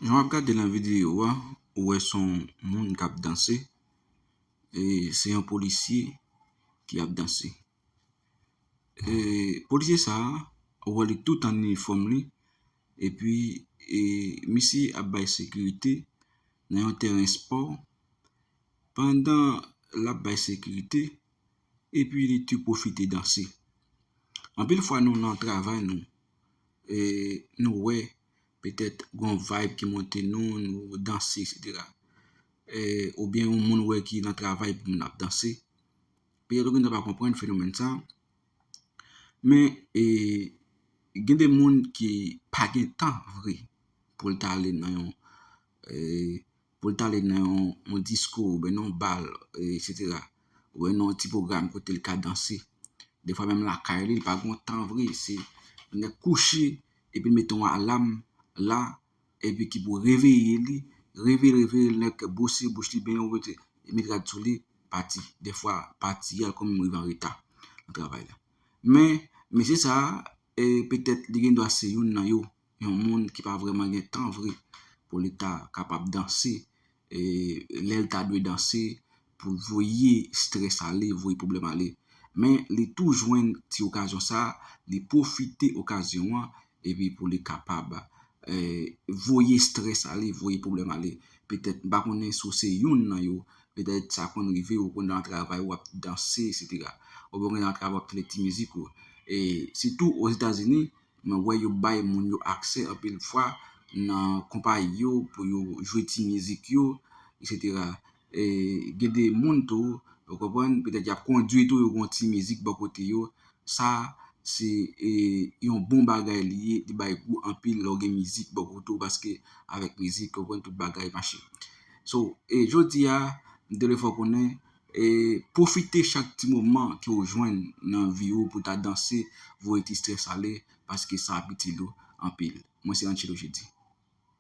Jan wap gade nan video a, ou wè son moun kap danse, e se yon polisye ki ap danse. E polisye sa, ou wè li tout an inifòm li, e pi e misye ap bay sekirite nan yon tèren spò, pandan lap bay sekirite, e pi li tou pwofite danse. Anpil fwa nou nan travay nou, e nou wè petèt gon vibe ki monte nou, nou danse etc. Ou byen yon moun ou wè ki nan travay epi moun nan ap danse. Petèt ou gendwa pa konprann fenomèn sa. Men gen de moun ki pa gen tan vre pou l ta ale nan yon pou l t ale nan yon diskou oubyen nan yon bal eksetera oubyen nan yon ti pwogram kote l ka danse. Defwa menm lakay li, li pa gen yon tan vre, se lè kouche epi l mete yon alam la epi ki pou reveye li, reveye l, reveye l, nèg bwose bouch li byen, li met rad sou li, pati. Defwa pati li al kòm rive an reta nan travay la. Men, mesye sa a, petèt li gendwa se youn nan yo Yon moun ki pa vrèman gen tan vre pou li ta kapab danse lè l ta dwe danse pou l voye strès ale, voye pwoblèm ale. Men li tou jwenn ti okazyon sa, li pwofite okazyon an epi pou li kapab voye strès ale, voye pwoblèm ale. Petèt m pa konnen si w se youn nan yo, petèt sa konn rive w pandan travay ou ap danse eksetera. Oubyen w nan travay w ap tande ti mizik ou. Sitou Ozetazini, Mwen wè yo bay moun yo aksè anpil fwa nan konpayi yo pou yo jwe ti mizik yo eksetera e gen de moun tou ou konprann petèt y ap kondwi tou yo gen yon ti mizik bò kote yo sa se yon bon bagay li ye li bay gou anpil lè w gen mizik bò kote w paske avèk mizik ou konprann tout bagay mache so e jodi a m te vle fè w konnen Pwofite chak ti moman ke ou jwenn nan vi ou pou ta danse, voye ti stress ale paske sa ap itil ou anpil. Mwen se Anchelo Jeudy.